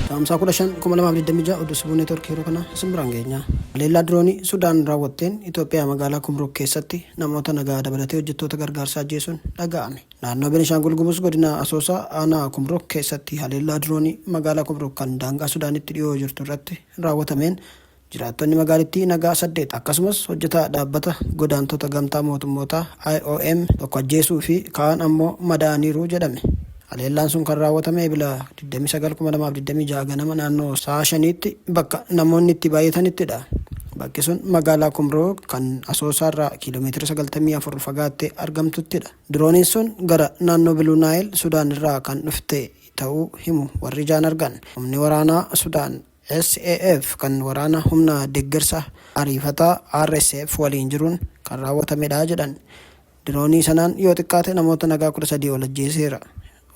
Caamsaa 15 2026 oduu sibuu neetwoorkii yeroo kana isin biraan geenyaa. Haleellaa diroonii Sudaan raawwatteen Itoophiyaa magaalaa Kumruuk keessatti namoota nagaa dabalatee hojjettoota gargaarsaa ajjeesuun dhaga'ame. Naannoo Benishaangul Gumuz godina Asoosaa aanaa Kumruuk keessatti haleellaa diroonii magaalaa Kumruuk kan daangaa Sudaanitti dhiyoo jirtu irratti raawwatameen Jiraattonni magaalittii nagaa 8 akkasumas hojjetaa dhaabbata godaantota gamtaa mootummootaa IOM tokko ajjeesuu fi kaan ammoo madaa'aniiru jedhame. Haleellaan sun kan raawwatame Ebila 29, 2026 ganama naannoo sa'a 5tti bakka namoonni itti baay'atanittidha. Bakki sun magaalaa Kumroo kan Asoosaarraa kiiloomeetira 94 fagaattee argamtuttidha. Dirooniin sun gara naannoo Biluu Naayil Sudaan irraa kan dhufte ta'uu himu warri ijaan argan. Humni waraanaa Sudaan SAF kan waraana humna deggersa ariifataa RSF waliin jiruun kan raawwatamedha jedhan. Diroonii sanaan yoo xiqqaate namoota nagaa 13 ol ajjeeseera.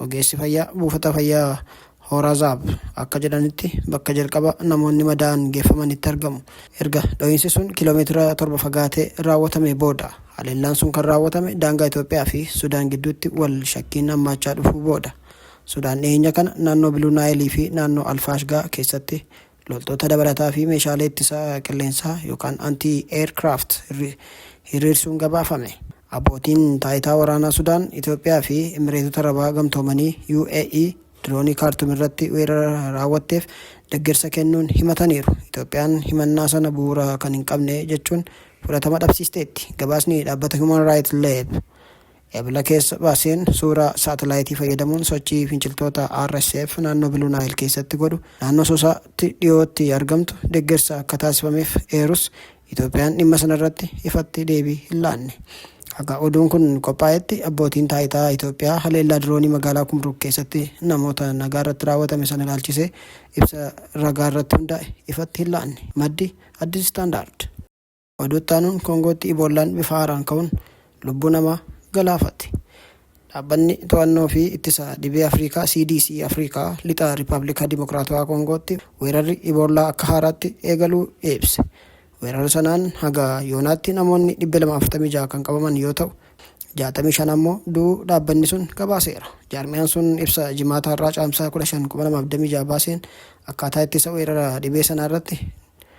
Ogeessi fayyaa buufata fayyaa Horazaab akka jedhanitti bakka jalqaba namoonni madaa'an geeffamanitti argamu. Erga dho'iinsi sun kiiloomeetira 7 fagaatee raawwatamee booda. Haleellaan sun kan raawwatame daangaa Itoophiyaa fi Sudaan gidduutti wal shakkiin hammaachaa dhufuu booda. Sudaan dhiheenya kana naannoo Biluu Naayil fi naannoo Al-Faashgaa keessatti loltoota dabalataa fi meeshaalee ittisa qilleensaa yookaan anti-aircraft hiriirsuun gabaafame. Abbootiin taayitaa waraanaa Sudaan, Itoophiyaa fi Imireetota Arabaa Gamtoomanii, UAE, diroonii Kaartum irratti weerara raawwatteef deggersa kennuun himataniiru. Itoophiyaan himannaa sana bu'uura kan hin qabne jechuun fudhatama dhabsiisteetti. Gabaasni dhaabbata Human Rights Lab Ebla keessa baaseen suuraa saatalaayitii fayyadamuun sochii finciltoota RSF naannoo Biluu Naayil keessatti godhu naannoo Asoosaatti dhiyootti argamtu deggersa akka taasifameef eerus Itoophiyaan dhimma sanarratti ifatti deebii hin laanne. Haga oduun kun qophaa'etti abbootiin taayitaa Itoophiyaa haleellaa diroonii magaalaa Kumruuk keessatti namoota nagaarratti raawwatame sana ilaalchisee ibsa ragaarratti hundaa'e ifatti hin laanne. Maddi Addis Standard. Oduu itti aanuun Koongootti Iboollaan bifa haaraan ka'uun lubbuu namaa galaafate. Dhaabbanni to'annoo fi ittisa dhibee Afriikaa CDC Afriikaa lixa Rippaabilika Dimokiraatawaa Koongootti weerarri Iboollaa akka haaraatti eegaluu ibse. Weerara sanaan haga yoonaatti namoonni 246 kan qabaman yoo ta'u, 65 ammoo du'uu dhaabbanni sun gabaaseera. Jaarmiyaan sun ibsa Jimaata har'aa Caamsaa 15, 2026 baaseen akkaataa ittisa weerara dhibee sanaa irratti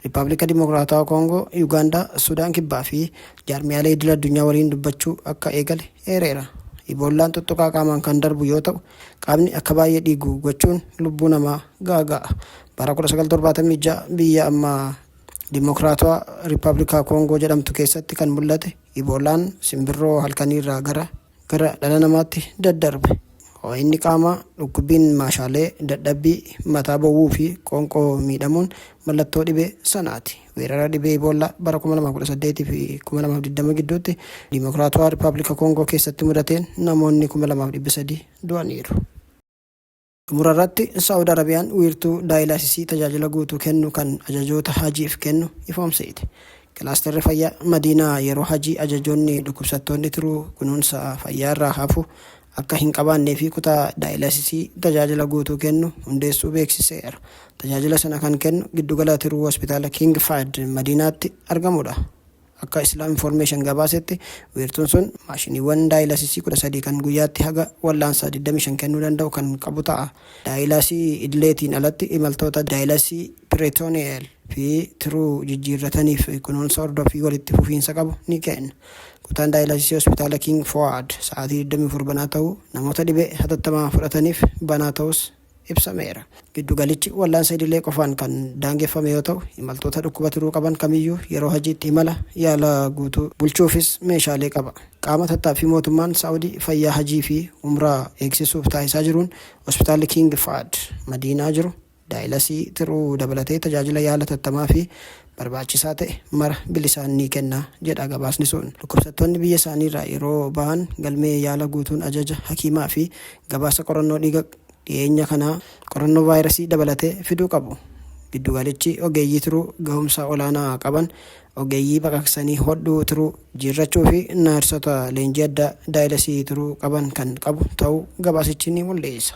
Rippaablika Dimokiraatawaa Koongoo, Yugaandaa, Sudaan Kibbaa fi jaarmiyaalee idil addunyaa waliin dubbachuu akka eegale eereera. Iboollaan xuxxuqaa qaamaan kan darbu yoo ta'u, qaamni akka baay'ee dhiigu gochuun lubbuu namaa gaaga'a. Bara 1976 biyya amma Dimokiraatawaa Rippaablikaa Koongoo jedhamtu keessatti kan mul'ate Iboollaan simbirroo halkaniirraa gara gara dhala namaatti daddarbe. Hoo'inni qaamaa, dhukkubbiin maashaalee, dadhabbii, mataa bowwuu fi qoonqoo miidhamuun mallattoo dhibee sanaati. Weerara dhibee Iboollaa bara 2018 fi 2020 gidduutti Dimokiraatawaa Rippaabilika Koongoo keessatti mudateen namoonni 2,300 du'aniiru. Xumura irratti, Saa'ud Arabiyaan wiirtuu daayilaasisii tajaajila guutuu kennu kan ajajoota Hajiif kennu ifoomsite. Kilaastarri fayyaa Madiinaa yeroo Hajii ajajoonni dhukkubsattoonni tiruu kunuunsa fayyaa irraa hafu akka hin qabaannee fi kutaa daayilaasisii tajaajila guutuu kennu hundeessuu beeksiseera. Tajaajila sana kan kennu giddugala tiruu Hospitaala King Fahd Madiinaatti argamudha. Akka Islam Information gabaasetti, wiirtuun sun maashiniiwwan daayilasisii 13 kan guyyaatti haga wallaansa 25 kennuu danda'u kan qabu ta'a. Daayilasii idileetiin alatti imaltoota daayilasii peritoneal fi tiruu jijjiirrataniif kunuunsa hordoffii walitti fufiinsa qabu ni kenna. Kutaan daayilasisii Hospitaala King Fowad sa'aatii 24 banaa ta'uu, namoota dhibee hatattamaa fudhataniif banaa ta'uus ibsameera. Giddugalichi wallaansa idilee qofaan kan daangeffame yoo ta'u, imaltoota dhukkuba tiruu qaban kamiyyuu yeroo hajiitti imala yaala guutuu bulchuufis meeshaalee qaba. Qaama tattaaffii mootummaan Saa'udii fayyaa hajii fi umraa eegsisuuf taasisaa jiruun Hospitaalli King Fahad Madiinaa jiru daayilasii tiruu dabalatee tajaajila yaala tattamaa fi barbaachisaa ta'e mara bilisaan ni kenna jedha gabaasni sun. Dhukkubsattoonni biyya isaaniirraa yeroo bahan galmee yaala guutuun ajaja hakiimaa fi gabaasa qorannoo dhiiga dhiyeenya kanaa qorannoo vaayirasii dabalatee fiduu qabu. Giddugalichi ogeeyyii tiruu gahumsa olaanaa qaban, ogeeyyii baqaqsanii hodhuu tiruu, jiirrachuu fi naarsota leenjii addaa daayilesii tiruu qaban kan qabu ta'uu gabaasichi ni mul'isa.